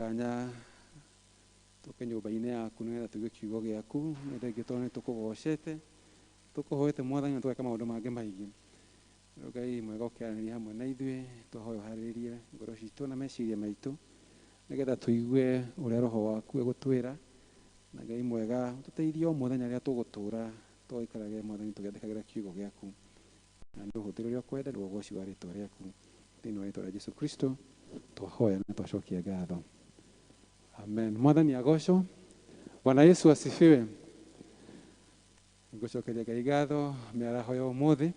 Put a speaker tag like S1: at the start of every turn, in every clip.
S1: Tanya tũke nyũmba-inĩ yaku nĩgetha tũigue kiugo gĩaku nĩ thengiũ tondũ nĩ tũkũgocete tũkũhoete mwathani na tũgeka maũndũ mangĩ maingĩ Rĩu ngai mwega ũkĩaranĩria hamwe na ithuĩ twahoya ũharĩrĩrie ngoro citũ na meciria maitũ nĩgetha tũigue ũrĩa roho waku egũtwĩra na ngai mwega ũtũteithie o mũthenya rĩrĩa tũgũtũra tũgaikarage mwathani tũgĩathĩkagĩra kiugo gĩaku Na nĩ ũhũthĩre ũrĩa ũkwenda nĩguo ũgoci wa rĩtwa rĩaku. Thĩinĩ wa rĩtwa rĩa Jesu Kristo twahoya na twacokia ngatho. Amen. Mwathani agocwo. Bwana Yesu asifiwe. Ngũcokeria Ngai ngatho mĩaraho ya ũmũthĩ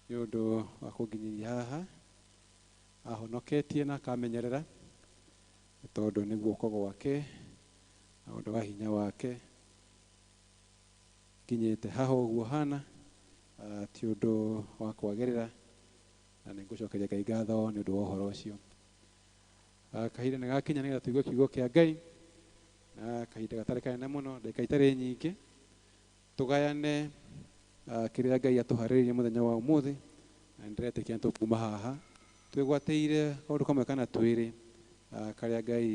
S1: nĩ ũndũ wa kũnginyĩria haha ahonoketie na akamenyerera nĩ tondũ nĩ guoko gwake na ũndũ wa hinya wake Nginyĩte haha ũguo hana, ti ũndũ wa kwagĩrĩra, na nĩ ngũcokeria Ngai ngatho nĩ ũndũ wa ũhoro ũcio. Kahinda nĩ gakinya nĩgetha tũigue kiugo kĩa Ngai, na kahinda gatarĩ kanene mũno, ndagĩka itarĩ nyingĩ, tũgayane kĩrĩa Ngai atũharĩrĩirie mũthenya wa ũmũthĩ, na nĩ ndĩretĩkia nĩ tũkuma haha twĩgwatĩire kaũndũ kamwe kana twĩrĩ karĩa Ngai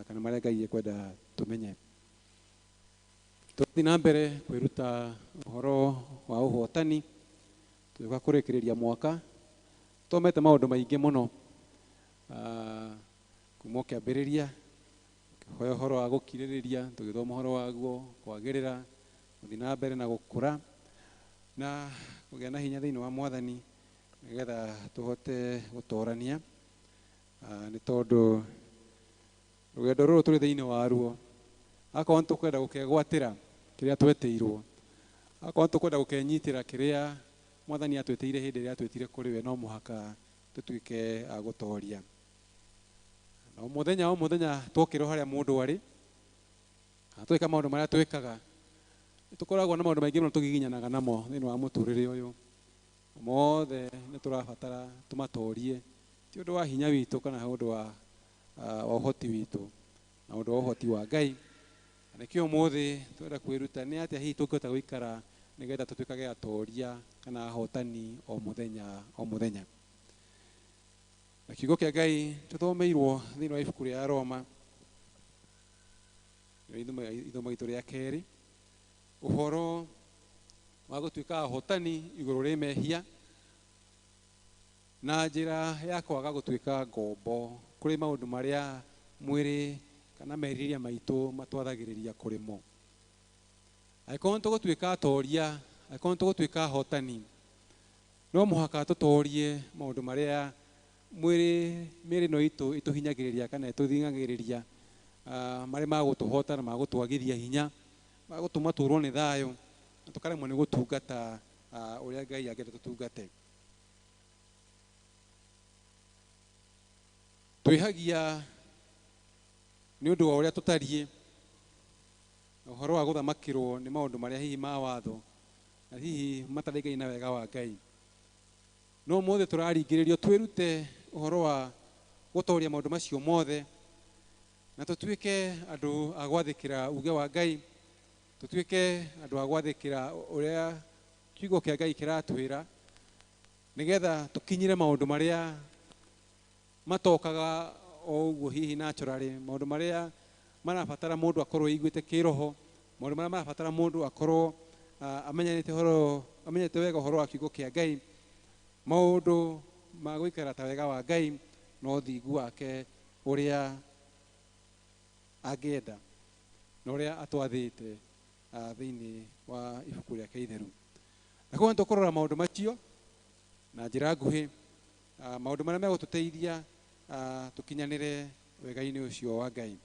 S1: kana marĩa Ngai ekwenda tũmenye. Tũgũthiĩ na mbere kwĩruta ũhoro wa ũhotani tũgĩũka kũrĩkĩrĩria mwaka. Tũthomete maũndũ maingĩ mũno ah, kuma o kĩambĩrĩria kĩhoya ũhoro wa gũkirĩrĩria, tũgĩthoma ũhoro waguo, kwagĩrĩra, gũthiĩ na mbere na gũkũra na kũgĩa na hinya thĩinĩ wa mwathani nĩgetha tũhote gũtorania Ah, nĩ tondũ Rũgendo rũrũ tũrĩ thĩinĩ waruo, akorwo nĩ tũkwenda gũkegwatĩra kĩrĩa twetĩirwo, akorwo nĩ tũkwenda gũkenyitĩra kĩrĩa Mwathani atwĩtĩire hĩndĩ ĩrĩa atwĩtire kũrĩ we, no mũhaka tũtuĩke a gũtoria. Na o mũthenya o mũthenya twokĩrwo harĩa mũndũ arĩ, kana twĩka maũndũ marĩa twĩkaga, nĩ tũkoragwo na maũndũ maingĩ mũno tũgiginyanaga namo thĩinĩ wa mũtũrĩre ũyũ. Mothe nĩ tũrabatara tũmatorie, ti ũndũ wa hinya witũ kana ũndũ wa ah, wa ũhoti witũ na ũndũ wa ũhoti wa ngai na nĩkĩo ũmũthĩ twenda kwĩruta nĩ atĩa hihi tũngĩhota gũikara nĩgetha tũtuĩkage atoria kana ahotani o mũthenya o mũthenya na kiugo kĩa ngai tũthomeirwo thĩinĩ wa ibuku rĩa roma nĩrĩo ithomo- ithomo itũ rĩa kerĩ ũhoro wa gũtuĩka ahotani igũrũ rĩ mehia Na njĩra ya kwaga gũtuĩka ngombo kũrĩ maũndũ marĩa mwĩrĩ kana merirĩria maitũ matwathagĩrĩria kũrĩ mo. Angĩkorwo nĩ tũgũtuĩka atooria, angĩkorwo nĩ tũgũtuĩka ahotani, no mũhaka tũtoorie maũndũ marĩa mwĩrĩ, mĩĩrĩ ĩno itũ ĩtũhinyagĩrĩria kana ĩtũthing'agĩrĩria, ah, marĩ ma gũtũhota na ma gũtwagithia hinya, ma gũtũma tũũrwo nĩ thayũ, na tũkaremwo nĩ gũtungata, ah, ũrĩa Ngai angĩenda tũtungate. twĩhagia nĩ ũndũ wa ũrĩa tũtariĩ na ũhoro wa gũthamakĩrwo nĩ maũndũ marĩa hihi ma watho na hihi mataraigani na wega wa ngai no mothe tũraringĩrĩrio twĩrute ũhoro wa gũtoria maũndũ macio mothe na tũtuĩke andũ a gwathĩkĩra uge wa ngai tũtuĩke andũ a gwathĩkĩra ũrĩa Kiugo kĩa Ngai kĩratwĩra nĩgetha tũkinyire maũndũ marĩa matokaga o ũguo hihi naturally, maũndũ marĩa marabatara mũndũ akorwo aiguĩte kĩroho, maũndũ marĩa marabatara mũndũ akorwo ah, amenyanĩte ũhoro amenyete wega ũhoro wa kiugo kĩa Ngai, maũndũ ma gũikara ta wega wa Ngai na ũthingu wake ũrĩa angĩenda na ũrĩa atwathĩte ah, thĩinĩ wa ibuku rĩake itheru na koguo nĩtũkũrora maũndũ macio na njĩra nguhĩ ah, maũndũ marĩa megũtũteithia ah, tũkinyanĩre wega-inĩ ũcio wa ngai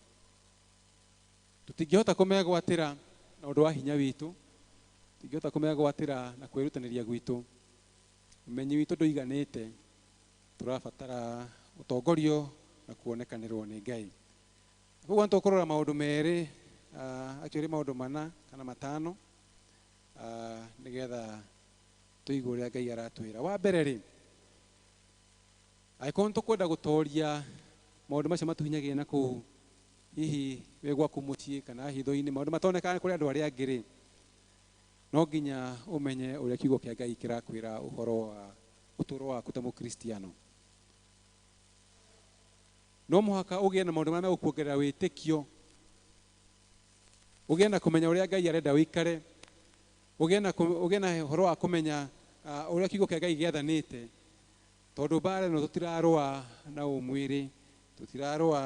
S1: tũtingĩhota kũmegwatĩra na ũndũ wa hinya witũ tũtingĩhota kũmegwatĩra na kwĩrutanĩria gwitũ ũmenyi witũ ndũiganĩte tũrabatara ũtongorio na kuonekanĩrwo nĩ ngai Koguo nĩtũkũrora maũndũ merĩ, uh, actually maũndũ mana kana matano uh, nĩgetha tũigue ũrĩa Ngai aratwĩra. Wa mbere rĩ, angĩkorwo nĩtũkwenda gũtoria maũndũ macio matũhinyagĩrĩria na kũu hihi wĩ gwaku mũciĩ kana hitho-inĩ, maũndũ matonekaga kũrĩ andũ arĩa angĩ rĩ, no nginya ũmenye ũrĩa kiugo kĩa Ngai kĩrakwĩra ũhoro wa ũtũũro waku ta mũkristiano. No mũhaka ũgĩe na maũndũ marĩa megũkuongerera wĩtĩkio, ũgĩe na kũmenya ũrĩa Ngai arenda ũikare, ũgĩe na, kũ- ũgĩe na ũhoro wa kũmenya ah, ũrĩa kiugo kĩa Ngai gĩathanĩte, tondũ mbaara ĩno tũtirarũa na ũmwĩrĩ, tũtirarũa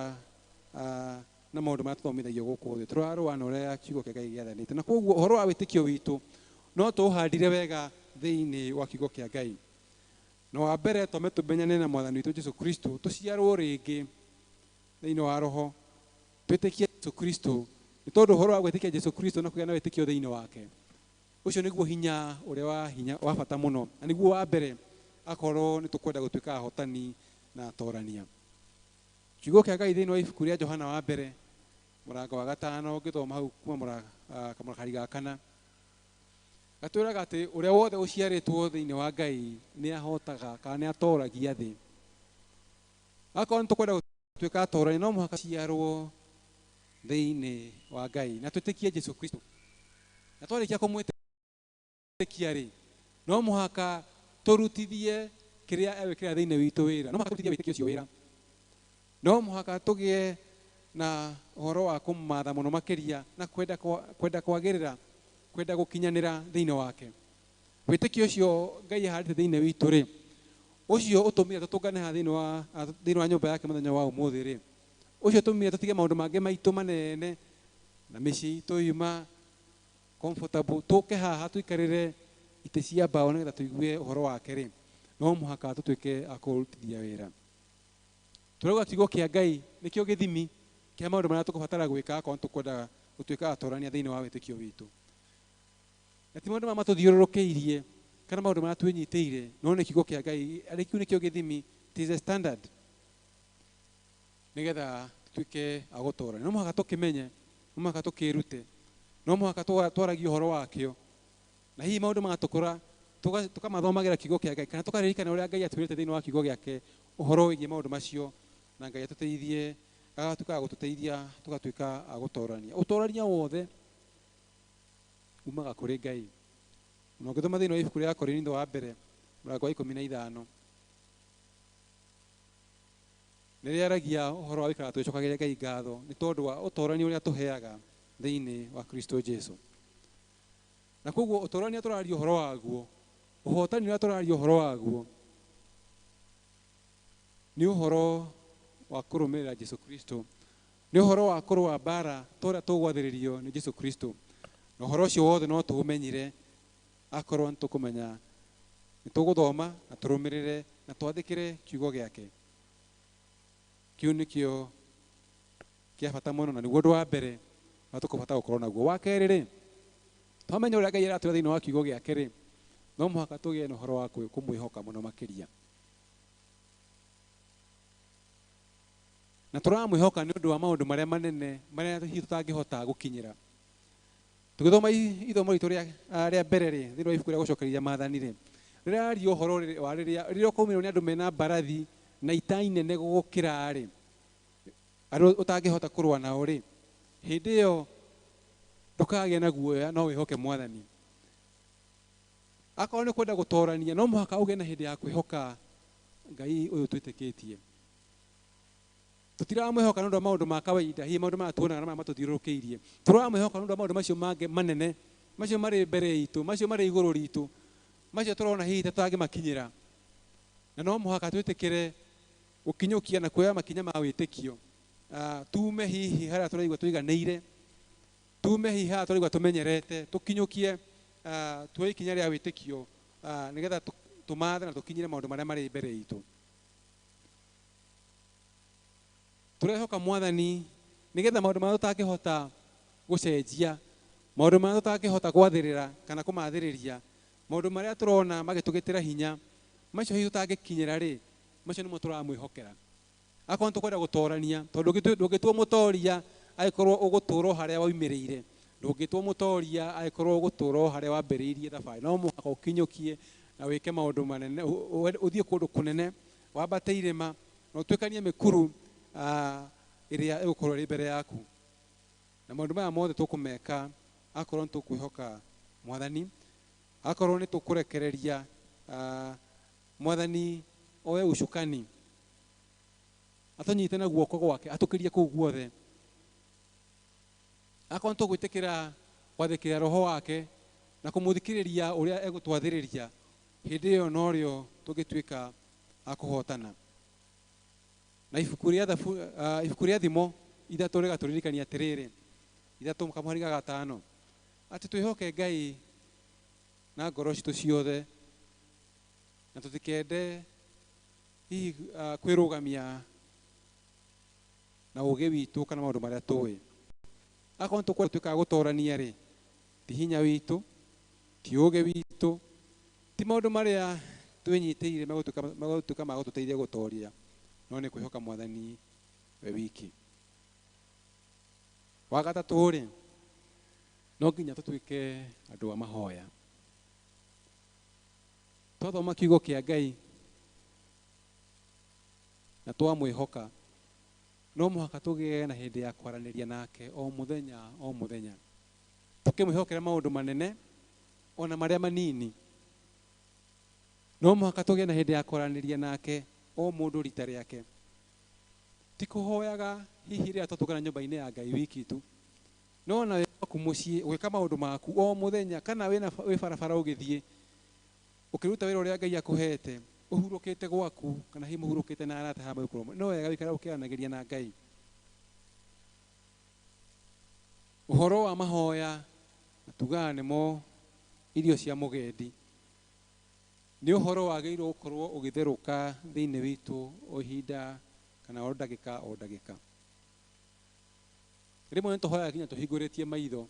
S1: ah, na maũndũ marĩa tũthomithagio gũkũ thĩ, tũrarũa na ũrĩa kiugo kĩa Ngai gĩathanĩte. Na koguo ũhoro wa wĩtĩkio witũ no tũũhandire wega thĩinĩ wa kiugo kĩa Ngai. Na wa mbere, twambe tũmenyane na Mwathani witũ Jesu Kristo, tũciarwo rĩngĩ thĩinĩ wa Roho, twĩtĩkie Jesu Kristo, nĩ tondũ ũhoro wa gwĩtĩkia Jesu Kristo na kũgĩa na wĩtĩkio thĩinĩ wake, ũcio nĩguo hinya ũrĩa wa hinya wa bata mũno, na nĩguo wa mbere akorwo nĩ tũkwenda gũtuĩka ahotani na atorania. Kiugo kĩa Ngai thĩinĩ wa ibuku rĩa Johana wa mbere mũrango wa gatano ngĩthoma hau kuma mũra- ah, kamũrakari ga kana Gatwĩraga atĩ ũrĩa wothe ũciarĩtwo thĩinĩ wa Ngai nĩ ahotaga kana nĩ atoragia thĩ. Akorwo nĩ tũkwenda gũtuĩka atorani no mũhaka ciarwo thĩinĩ wa Ngai na twĩtĩkie Jesu Kristo. Na twarĩkia kũmwĩtĩkia rĩ, no mũhaka tũrutithie kĩrĩa egwĩkĩra thĩinĩ witũ wĩra. No mũhaka tũrutithie wĩtĩkio ũcio wĩra. No mũhaka tũgĩe na ũhoro wa kũmũmaatha mũno makĩria na kwenda kwa- kwenda kwagĩrĩra, kwenda gũkinyanĩra thĩinĩ wake. Wĩtĩkio ũcio Ngai ahandĩte thĩinĩ witũ-rĩ, ũcio ũtũmire tũtũngane haha thĩinĩ wa ah, thĩinĩ wa nyũmba yake mũthenya wa ũmũthĩ-rĩ, ũcio ũtũmire tũtige maũndũ mangĩ maitũ manene na mĩciĩ itũ yuma comfortable tũke haha tũikarĩre itĩ cia mbaũ nĩgetha tũigue ũhoro wake-rĩ, no mũhaka tũtuĩke a kũũrutithia wĩra. Tũrauga kiugo kĩa Ngai nĩkĩo gĩthimi kĩa maũndũ marĩa tũkũbatara gwĩka akorwo tũkwendaga gũtuĩka atorania thĩinĩ wa wĩtĩkio witũ na ti maũndũ marĩa matũthiũrũrũkĩirie kana maũndũ marĩa twĩnyitĩire no nĩ kiugo kĩa ngai arĩ kiu nĩkĩo gĩthimi it is a standard nĩgetha tuĩke agũtorania no mũhaka tũkĩmenye no mũhaka tũkĩrute no mũhaka twa- twaragie ũhoro wakĩo Na hihi maũndũ magatũkũra tũga- tũkamathomagĩra kiugo kĩa Ngai kana tũkaririkana ũrĩa Ngai atwĩrĩte thĩinĩ wa kiugo gĩake ũhoro wĩgiĩ maũndũ macio na Ngai atũteithie agatuĩka wa gũtũteithia tũgatuĩka a gũtorania. Ũtorania wothe umaga kũrĩ Ngai. Na ũngĩthoma thĩinĩ wa ibuku rĩa Akorinitho wa mbere mũrango wa ikũmi na ithano rĩrĩa aragia ũhoro wa gũikara tũgĩcokagĩria Ngai ngatho nĩ tondũ wa ũtorania ũrĩa tũheaga thĩinĩ wa Kristo Jesu. Na koguo ũtũrania tũraria ũhoro waguo, ũhotani ũrĩa tũraria ũhoro waguo nĩ ũhoro wa kũrũmĩrĩra Jesu Kristo, nĩ ũhoro wa kũrũa mbara ta ũrĩa tũgwathĩrĩrio nĩ Jesu Kristo. Na ũhoro ũcio wothe no tũũmenyire akorwo nĩ tũkũmenya, nĩ tũgũthoma na tũrũmĩrĩre na twathĩkĩre kiugo gĩake. Kĩu nĩkĩo Kĩa bata mũno, na nĩguo ũndũ wa mbere ũrĩa tũkũbatara gũkorwo naguo. Wa kerĩ-rĩ, twamenya ũrĩa Ngai aratwĩra thĩinĩ wa kiugo gĩake-rĩ, no mũhaka tũgĩe na ũhoro wa kwĩ- kũmwĩhoka mũno makĩria. Na tũramwĩhoka nĩ ũndũ wa maũndũ marĩa manene marĩa hihi tũtangĩhota gũkinyĩra. Tũgĩthoma i- ithomo ritũ rĩa ah, rĩa mbere-rĩ, thĩinĩ wa ibuku rĩa gũcokereria maathani-rĩ, rĩraria ũhoro rĩ- wa rĩrĩa rĩrĩa ũkaumirwo nĩ andũ mena mbarathi na itai nene gũgũkĩra-rĩ, andũ ũtangĩhota kũrũa nao rĩ hĩndĩ ĩyo ndũkagĩa na guoya no wĩhoke mwathani akorwo nĩ kwenda gũtorania no mũhaka ũgĩe na hĩndĩ ya kwĩhoka ngai ũyũ twĩtĩkĩtie tũtiramwĩhoka nĩ ũndũ wa maũndũ ma kawaida hihi maũndũ maya tuonaga na maya matũthiũrũrũkĩirie tũramwĩhoka nĩ ũndũ wa maũndũ macio mangĩ manene macio marĩ mbere itũ macio marĩ igũrũ ritũ macio tũrona hihi ta tũtangĩmakinyĩra na no mũhaka twĩtĩkĩre Gũkinyũkia na kuoya makinya ma wĩtĩkio. Tuume hihi harĩa tũraigua tũiganĩire, tuume hihi harĩa tũraigua tũmenyerete, tũkinyũkie tuoye ikinya rĩa wĩtĩkio nĩgetha tũmaathe na tũkinyĩre maũndũ marĩa marĩ mbere itũ. Tũrehoka Mwathani nĩgetha maũndũ marĩa tũtangĩhota gũcenjia, maũndũ marĩa tũtangĩhota gwathĩrĩra kana kũmathĩrĩria, maũndũ marĩa tũrona magĩtũgĩtĩra hinya, macio hihi tũtangĩkinyĩra-rĩ, Macio nĩmo tũramwĩhokera. Akorwo nĩtũkwenda gũtoorania, tondũ ndũngĩtu- ndũngĩtua mũtooria angĩkorwo ũgũtũũra o harĩa waumĩrĩire. Ndũngĩtua mũtooria angĩkorwo ũgũtũũra o harĩa wambĩrĩirie thabarĩ. No mũhaka ũkinyũkie na wĩke maũndũ manene, ũ- ũ- ũ- ũthiĩ kũndũ kũnene, wambate irĩma, na ũtuĩkanie mĩkuru ah, ĩrĩa ĩgũkorwo ĩrĩ mbere yaku. Na maũndũ maya mothe tũkũmeka akorwo nĩtũkwĩhoka Mwathani, akorwo nĩtũkũrekereria ah, Mwathani oe ucukani, atunyite na guoko gwake, atukirie kuu guothe. Akorwo nitugwitikira kwathikirira Roho wake na kumuthikiriria uria egutwathiriria, hindi iyo norio tungituika a kuhotana. Na ibuku ria Thabu, uh, ibuku ria Thimo ithatu rigaturirikania atiriri, ithatu kamũhari ga gatano, ati twihoke Ngai na ngoro citu ciothe, na tũtikende hihi ah, kwĩrũgamia na ũgĩ witũ kana maũndũ marĩa tũĩ akorwo nĩtũkwenda tuĩkaga gũtorania rĩ ti hinya witũ ti ũgĩ witũ ti maũndũ marĩa twĩnyitĩire megũtuĩka megũtuĩka ma gũtũteithia gũtoria no nĩ kwĩhoka mwathani we wiki wa gatatũ rĩ no nginya tũtuĩke andũ a mahoya twathoma kiugo kĩa ngai na twamwĩhoka no mũhaka tũgĩe na hĩndĩ ya kwaranĩria nake o mũthenya o mũthenya tũkĩmwĩhokera maũndũ manene ona marĩa manini no mũhaka tũgĩe na hĩndĩ ya kwaranĩria nake o mũndũ rita rĩake ti kũhoyaga hihi rĩrĩa twatũngana nyũmba-inĩ ya ngai wiki tu No ona wĩ gwaku mũciĩ, ũgĩka maũndũ maku o mũthenya, kana wĩ na, wĩ barabara ũgĩthiĩ, ũkĩruta wĩra ũrĩa Ngai akũheete, ũhurũkĩte gwaku, kana hihi mũhurũkĩte na araata haha mũgĩkorwo mũrĩ, no wega gũikara ũkĩaranagĩria na Ngai. Ũhoro wa mahooya, na tugaga nĩmo irio cia mũgendi, nĩ ũhoro wagĩrĩirwo gũkorwo ũgĩtherũka thĩinĩ witũ o ihinda, kana o ndagĩka o ndagĩka. rĩmwe nĩ tũhoyaga nginya tũhingũrĩtie maitho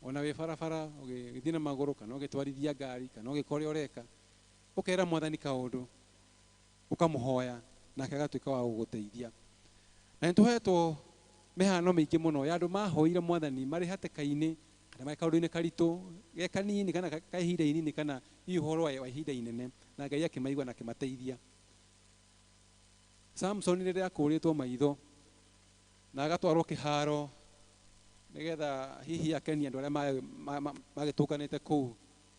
S1: ona wĩ barabara ũgĩthiĩ na magũrũ kana ũgĩtwarithia ngari kana ũgĩka ũrĩa ũreka ũkera mwathani kaũndũ ũkamũhoya nake agatuĩka wa gũgũteithia na nĩ tũhetwo mĩhano mĩingĩ mũno ya andũ mahoire mwathani marĩ hatĩka-inĩ kana marĩ kaũndũ-inĩ karitũ ge kanini kana ka ka ihinda inini kana hihi ũhoro wa wa ihinda inene na ngai akĩmaigua na akĩmateithia Samson rĩrĩa akũrĩtwo maitho na agatwarwo kĩharo nĩgetha hihi akenie andũ arĩa ma- ma- ma- magĩtũnganĩte kũu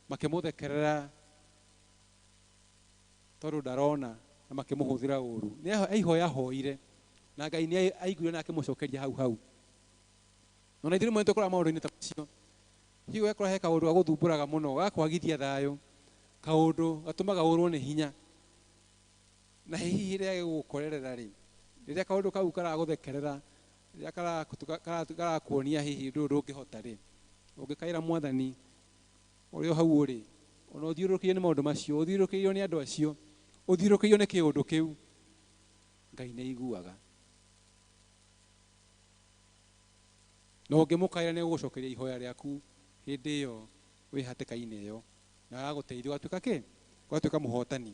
S1: makĩmũthekerera tondũ ndarona na makĩmũhũthĩra ũru nĩ eho- eihoya hoire na ngai nĩ ai- aiguire na akĩmũcokeria hau hau ona ithuĩ rĩmwe nĩtũkoraga maũndũ-inĩ ta macio hihi ũgakora he kaũndũ gagũthumbũraga mũno gakwagithia thayũ kaũndũ gatũmaga ũrwo nĩ hinya Na hihi hĩndĩ ĩrĩa gĩgũgũkorerera-rĩ, rĩrĩa kaũndũ kau karagũthekerera, rĩrĩa karatu- ka- karatu- karakuonia hihi ũndũ ũyũ ndũngĩhota-rĩ, ũngĩkaĩra Mwathani ũrĩ o hau ũrĩ, o na ũthiũrũrũkĩirio nĩ maũndũ macio, ũthiũrũrũkĩirio nĩ andũ acio, ũthiũrũrũkĩirio nĩ kĩũndũ kĩu, Ngai nĩ aiguaga. Na ũngĩmũkaĩra nĩ egũgũcokeria ihoya rĩaku hĩndĩ ĩyo wĩ hatĩka-inĩ ĩyo, na agagũteithia ũgatuĩka kĩ? Ũgatuĩka mũhotani.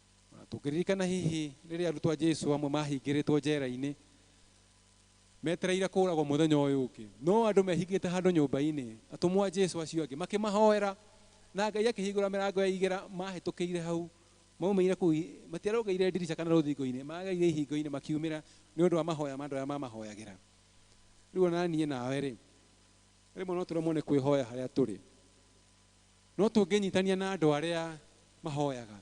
S1: O na tũngĩririkana hihi rĩrĩa arutwo a Jesu amwe mahingĩrĩtwo njera-inĩ metereire kũũragwo mũthenya ũyũ ũngĩ, no andũ mehingĩte handũ nyũmba-inĩ, atũmwo a Jesu acio angĩ makĩmahoera, na Ngai akĩhingũra mĩrango ya igera, mahĩtũkĩire hau, maumĩire kũu, i- matiarũgĩire ndirica kana rũthingo-inĩ, magereire ihingo-inĩ makiumĩra nĩ ũndũ wa mahoya ma andũ arĩa mamahoyagĩra. Rĩu o na niĩ nawe-rĩ, rĩmwe no tũremwo nĩ kwĩhoya harĩa tũrĩ. No tũngĩnyitania na andũ arĩa mahoyaga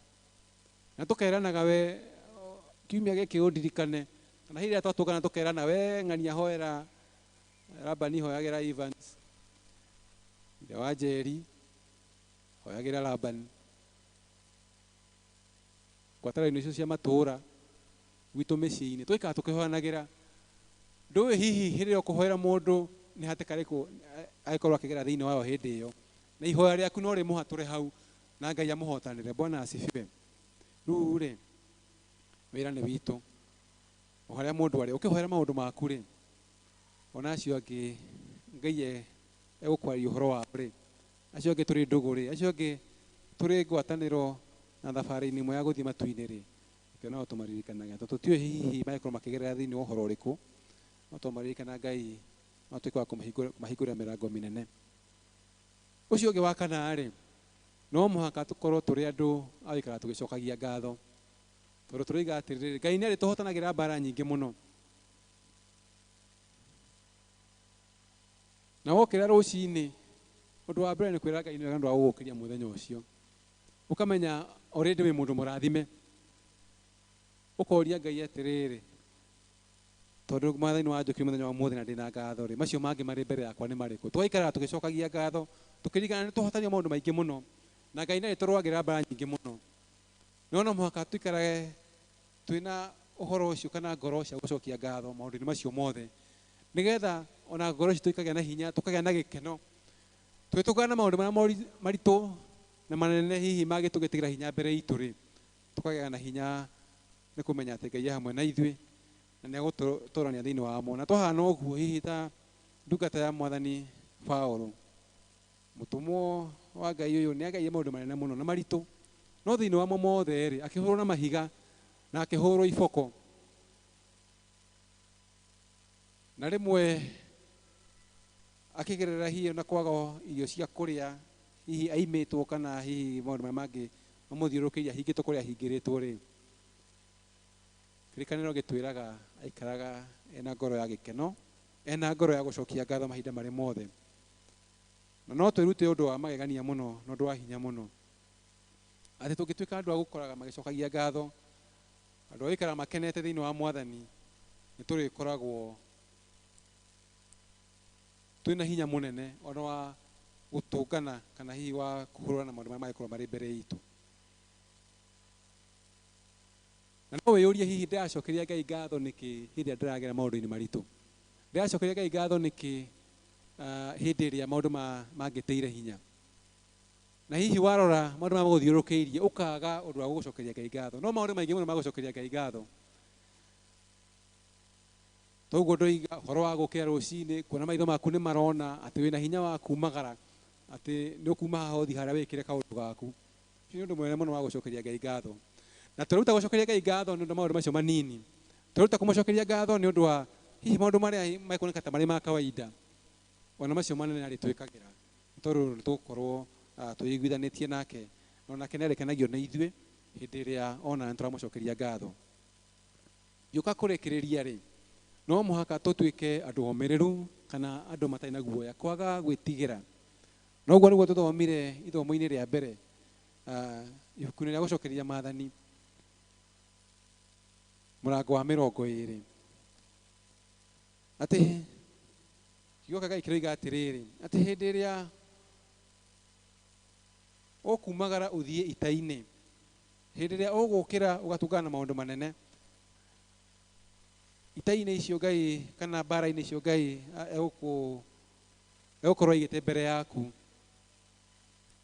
S1: na tũkeranaga, we kiumia gĩkĩ ũndirikane, kana hĩndĩ ĩrĩa twatũngana tũkerana, we ng'ania hoera Labani, hoyagĩra Evans, ithe wa Njeri, hoyagĩra Labani, ngwatanĩro-inĩ icio cia matũũra, gwitũ mĩciĩ-inĩ, tũgaikara tũkĩhoyanagĩra. Ndũĩ hihi hĩndĩ ĩrĩa ũkũhoera mũndũ nĩ hatĩka ĩrĩkũ eh, agĩkorwo akĩgera thĩinĩ wayo hĩndĩ ĩyo, na ihoya rĩaku no rĩmũhatũre hau na Ngai amũhotanĩre. Bwana asifiwe. Rĩu rĩ, wĩra nĩ witũ o harĩa mũndũ arĩ, ũkĩhoera maũndũ maku rĩ, ona acio angĩ Ngai e- egũkwarĩria ũhoro wao rĩ, Acio angĩ tũrĩ ndũgũ-rĩ, acio angĩ tũrĩ ngwatanĩro na thabarĩ-inĩ ĩmwe ya gũthiĩ matu-inĩ-rĩ, reke o nao tũmaririkanaga. Tondũ tũtiũĩ hihi mangĩkorwo makĩgerera thĩinĩ wa ũhoro ũrĩkũ, no twamaririkana Ngai no atuĩke wa kũmahingũrĩra mĩrango mĩnene. Ũcio ũngĩ wa kana-rĩ, no mũhaka tũkorwo tũrĩ andũ a gũikara tũgĩcokagia ngatho. Tondũ tũroiga atĩrĩrĩ, Ngai nĩ arĩtũhotanagĩra mbara nyingĩ mũno. Na wokĩra rũcinĩ, ũndũ wa mbere nĩ kwĩra Ngai nĩ wega nĩ ũndũ wa gũgũkĩria mũthenya ũcio. Ũkamenya already wĩ mũndũ mũrathime. Ũkoria Ngai atĩrĩrĩ, tondũ Mwathani nĩ wanjũkĩria mũthenya wa ũmũthĩ na ndĩ na ngatho-rĩ, macio mangĩ marĩ mbere yakwa nĩ marĩkũ? Tũgaikaraga tũgĩcokagia ngatho, tũkĩririkanaga nĩ twahotanire maũndũ maingĩ mũno, na Ngai nĩ arĩtũrũagĩrĩra mbara nyingĩ mũno. No no mũhaka tũikarage Twĩ na ũhoro ũcio kana ngoro cia gũcokia ngatho maũndũ-inĩ macio mothe, nĩgetha o na ngoro citũ ikagĩa na hinya, tũkagĩa na gĩkeno. Tũgĩtũngana na maũndũ marĩa moritũ, maritũ na manene hihi mangĩtũgĩtĩra hinya mbere itũ-rĩ, tũkagĩa na hinya nĩ kũmenya atĩ Ngai e hamwe na ithuĩ na nĩ egũtũtoorania thĩinĩ wamo. Na twahana ũguo hihi ta ndungata ya mwathani Paũlũ, Mũtũmwo wa Ngai ũyũ nĩ agereire maũndũ manene mũno na maritũ, no thĩinĩ wamo mothe-rĩ, akĩhũrwo na mahiga na akĩhũrwo iboko. Na rĩmwe akĩgerera hihi ona kwaga irio cia kũrĩa, hihi aimĩtwo kana hihi maũndũ marĩa mangĩ mamũthiũrũrũkĩirie ahingĩtwo kũrĩa ahingĩrĩtwo-rĩ, kĩrĩkanĩro gĩtwĩraga aikaraga ena ngoro ya gĩkeno, ena ngoro ya gũcokia ngatho mahinda marĩ mothe. Na no twĩrute ũndũ wa magegania mũno na ũndũ wa hinya mũno, atĩ tũngĩtuĩka andũ a gũkoraga magĩcokagia ngatho, andũ a gũikaraga makenete thĩinĩ wa Mwathani, nĩ tũrĩkoragwo twĩ na hinya mũnene o na wa gũtũngana kana hihi wa kũhũrana na maũndũ marĩa mangĩkorwo marĩ mbere itũ. Na no wĩyũrie hihi ndĩracokeria Ngai ngatho nĩkĩ hĩndĩ ĩrĩa ndĩragera maũndũ-inĩ maritũ? Ndĩracokeria Ngai ngatho nĩkĩ ah, hĩndĩ ĩrĩa maũndũ ma- mangĩtĩire hinya na hihi warora maũndũ marĩa magũthiũrũkĩirie ũkaga ũndũ wa gũgũcokeria ngai ngatho no maũndũ maingĩ mũno magũcokeria ngai ngatho toguo ndoiga ũhoro wa gũkĩra rũcinĩ kuona maitho maku nĩ marona atĩ wĩna hinya wa kumagara atĩ nĩ ũkuma haha ũthi harĩa wĩkĩre kaũndũ gaku Nĩ ũndũ mũnene mũno wa gũcokeria Ngai ngatho. Na tweruta gũcokeria Ngai ngatho nĩ ũndũ wa maũndũ macio manini. Tweruta kũmũcokeria ngatho nĩ ũndũ wa hihi maũndũ marĩa mekuoneka ta marĩ ma kawaida, o na macio manene arĩtwĩkagĩra, nĩ tondũ nĩ tũgũkorwo ah, twĩiguithanĩtie nake, na o nake nĩ arĩkenagio nĩ ithuĩ hĩndĩ ĩrĩa ona nĩ tũramũcokeria ngatho. Ngĩũka kũrĩkĩrĩria-rĩ, no mũhaka tũtuĩke andũ omĩrĩru kana andũ matarĩ na guoya, kwaga gwĩtigĩra Na ũguo nĩguo tũthomire ithomo-inĩ rĩa mbere ah, ibuku-inĩ rĩa gũcokereria maathani mũrango wa mĩrongo ĩĩrĩ atĩ kiugo kĩa Ngai kĩroiga atĩrĩrĩ atĩ hĩndĩ ĩrĩa ũkumagara ũthiĩ ita-inĩ hĩndĩ ĩrĩa ũgũkĩra ũgatũngana na maũndũ manene ita-inĩ icio Ngai kana mbara-inĩ icio Ngai ah, egũkũ ĩgũkorwo ĩigĩte mbere yaku.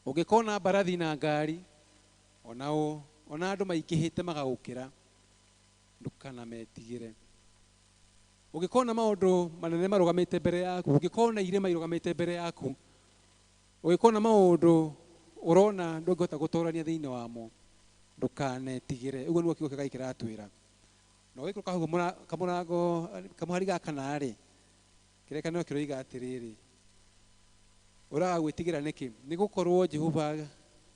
S1: Ũngĩkona mbarathi na ngari, ona ũ, ona andũ maingĩhĩte magagũkĩra, ndũkanametigĩre. Ũngĩkona maũndũ manene marũgamĩte mbere yaku, ũngĩkona irĩma irũgamĩte mbere yaku, ũngĩkona maũndũ ũrona ndũngĩhota gũtorania thĩinĩ wamo, ndũkanetigĩre. Ũguo nĩguo kiugo kĩa Ngai kĩratwĩra. Na ũgĩikũrũka hau kamũra- kamũrango, kamũhari gaka na-rĩ, Kĩrĩkanĩro kĩroiga atĩrĩrĩ, Ũraga gwĩtigĩra nĩkĩ? Nĩ gũkorũo Jehova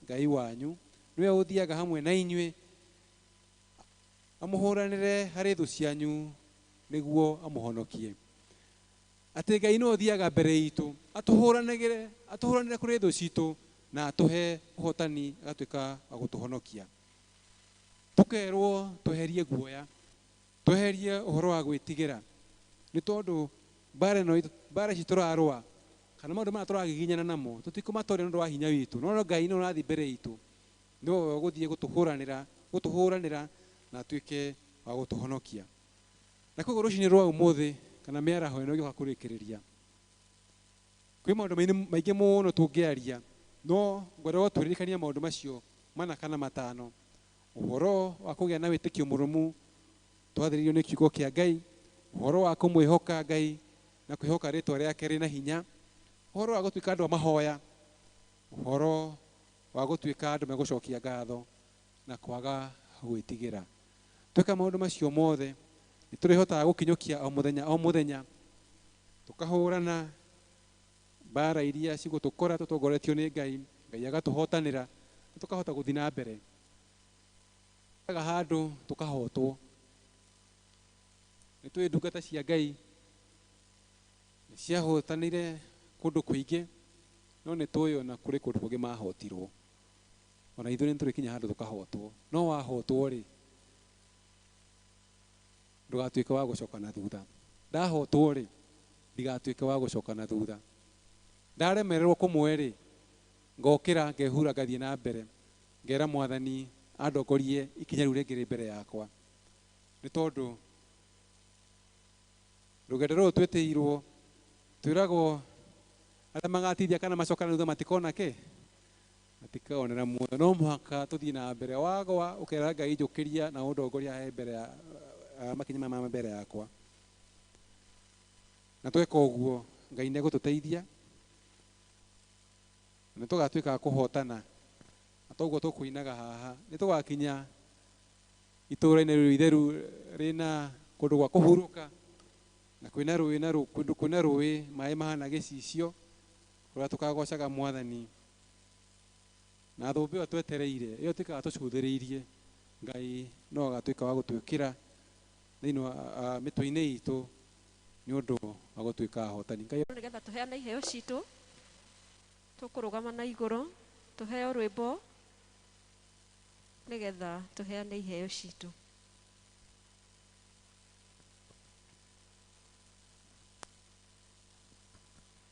S1: Ngai wanyu nĩwe ũthiaga hamwe na inyuĩ amũhũranĩre harĩ thũ cianyu nĩguo amũhonokie. Atĩ Ngai nĩwe ũthiaga mbere itũ atũhũranagĩre, atũhũranĩre kũrĩ thũ citũ na atũhe ũhotani agatuĩka wa gũtũhonokia. Tũkerũo tweherie guoya. Tweherie ũhoro wa gwĩtigĩra, nĩ tondũ mbaara ĩno itũ, mbaara ici tũrarũa, kana maũndũ maya tũragiginyana namo, tũtikũmatooria nĩ ũndũ wa hinya witũ, no Ngai nĩwe ũrathiĩ mbere itũ, nĩwe ũgũthiĩ gũtũhũranĩra, gũtũhũranĩra na atuĩke wa gũtũhonokia. Na kwoguo rũcinĩ rwa ũmũthĩ, kana mĩaraho ĩno ĩgĩũka kũrĩkĩrĩria, kwĩ maũndũ mainĩ, maingĩ mũno tũngĩaria, no ngwenda o tũririkanie maũndũ macio mana kana matano. Ũhoro wa kũgĩa na wĩtĩkio mũrũmu twathĩrĩirio nĩ kiugo kĩa Ngai, ũhoro wa kũmwĩhoka Ngai na kwĩhoka rĩtwa rĩake rĩna hinya, ũhoro wa gũtuĩka andũ a mahoya, ũhoro wa gũtuĩka andũ megũcokia ngatho na kwaga gwĩtigĩra. Tweka maũndũ macio mothe nĩ tũrĩhotaga gũkinyũkia o mũthenya o mũthenya tũkahũrana Mbaara iria cigũtũkora tũtongoretio nĩ Ngai, Ngai agatũhotanĩra na tũkahota gũthiĩ na mbere. Tũthiaga handũ tũkahotwo. Nĩ tũĩ ndungata cia Ngai nĩ ciahotanire kũndũ kũingĩ, no nĩ tũĩ ona kũrĩ kũndũ kũngĩ mahotirwo. Ona ithuĩ nĩ tũrĩkinya handũ tũkahotwo. No wahotwo rĩ, Ndũgatuĩke wa gũcoka na thutha. Ndahootwo-rĩ, ndigatuĩke wa gũcoka na thutha. Ndaremererwo kũmwe-rĩ, ngokĩra, ngehura, ngathiĩ na mbere, ngera Mwathani andongorie ikinya rĩu rĩngĩ rĩ mbere yakwa. Nĩ tondũ rũgendo rũrũ twĩtĩirwo, twĩragwo arĩa magatiithia kana macoke na thutha matikona kĩ? Matikaonera muoyo. No mũhaka tũthiĩ na mbere. Wagwa ũkera Ngai njũkĩria na ũndongoria he mbere ya ah, makinya maya ma mbere yakwa. Na tweka ũguo Ngai nĩ egũtũteithia na tũgatuĩka a kũhotana. Na toguo tũkũinaga haha. Nĩ tũgakinya itũũra-inĩ rĩu itheru rĩna kũndũ gwa kũhurũka na kwĩna rũĩ na rũ- kũndũ kwĩna rũĩ maĩ mahana gĩcicio Ũrĩa tũkagoocaga Mwathani na thũmbĩ ĩyo twetereire, ĩyo tũikaraga tũcuthĩrĩirie, Ngai no agatuĩka wa gũtwĩkĩra thĩinĩ wa ah, mĩtwe-inĩ itũ nĩ ũndũ wa gũtuĩka ahotani. Ngai Nĩ getha tũheane iheo
S2: citũ, tũkũrũgama na igũrũ, tũheo rwĩmbo nĩ getha tũheane iheo citũ.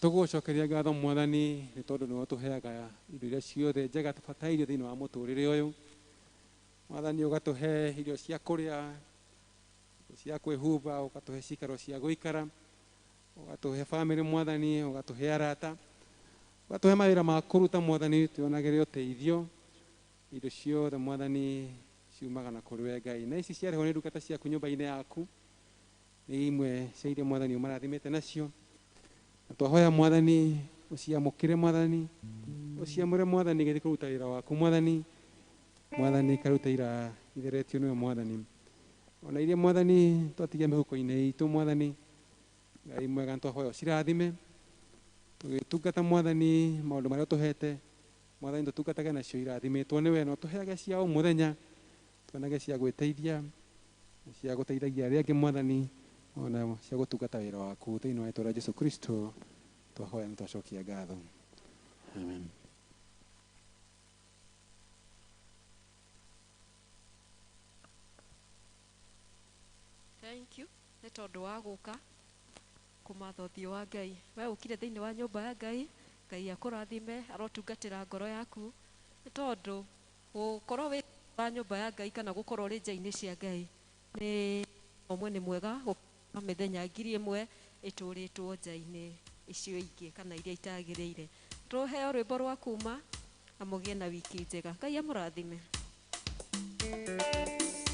S1: Tũgũgũcokeria ngatho Mwathani nĩ tondũ nĩwe ũtũheaga indo iria ciothe njega tũbatairio thĩinĩ wa mũtũrĩre ũyũ. Mwathani ũgatũhe irio cia kũrĩa, irio cia kwĩhumba, ũgatũhe cikaro cia gũikara, ũgatũhe bamĩrĩ Mwathani, ũgatũhe arata, ũgatũhe mawĩra ma kũruta Mwathani twĩyonagĩre ũteithio. Indo ciothe Mwathani ciumaga na kũrĩ we Ngai. Na ici ciarehwo nĩ ndungata ciaku nyũmba-inĩ yaku, Nĩ imwe cia iria Mwathani ũmarathimĩte nacio. Na twahoya Mwathani, ũciamũkĩre Mwathani, ũciamũre Mwathani igĩthiĩ kũruta wĩra waku Mwathani, Mwathani ikarute ira itheretio nĩwe Mwathani. Ona iria Mwathani twatigia mĩhuko-inĩ itũ Mwathani, Ngai mwega nĩtwahoya ũcirathime, tũgĩtungata Mwathani maũndũ marĩa ũtũhete, Mwathani tũtungatage nacio irathimĩtwo nĩwe, na ũtũheage cia o mũthenya, Tuonage cia gwĩteithia, cia gũteithagia arĩa angĩ Mwathani, o na cia gũtungata wĩra waku. Thĩinĩ wa rĩĩtwa rĩa Jesu Kristo twahoya na twacokia ngatho. Amen.
S2: Thank you nĩ tondũ wa gũka kũmatha ũthiũ wa Ngai. We ũkire thĩinĩ wa nyũmba ya Ngai, Ngai akũrathime, arotungatĩra ngoro yaku nĩ tondũ Gũkorwo wĩ thĩinĩ wa nyũmba ya Ngai kana gũkorwo ũrĩ nja-inĩ cia Ngai nĩ ũndũ ũmwe, nĩ mwega gũkĩra mĩthenya ngiri ĩmwe ĩtũrĩtwo nja-inĩ icio ingĩ kana iria itagĩrĩire. Tũheo rwĩmbo rwa kuuma na mũgĩe na wiki njega. Ngai amũrathime.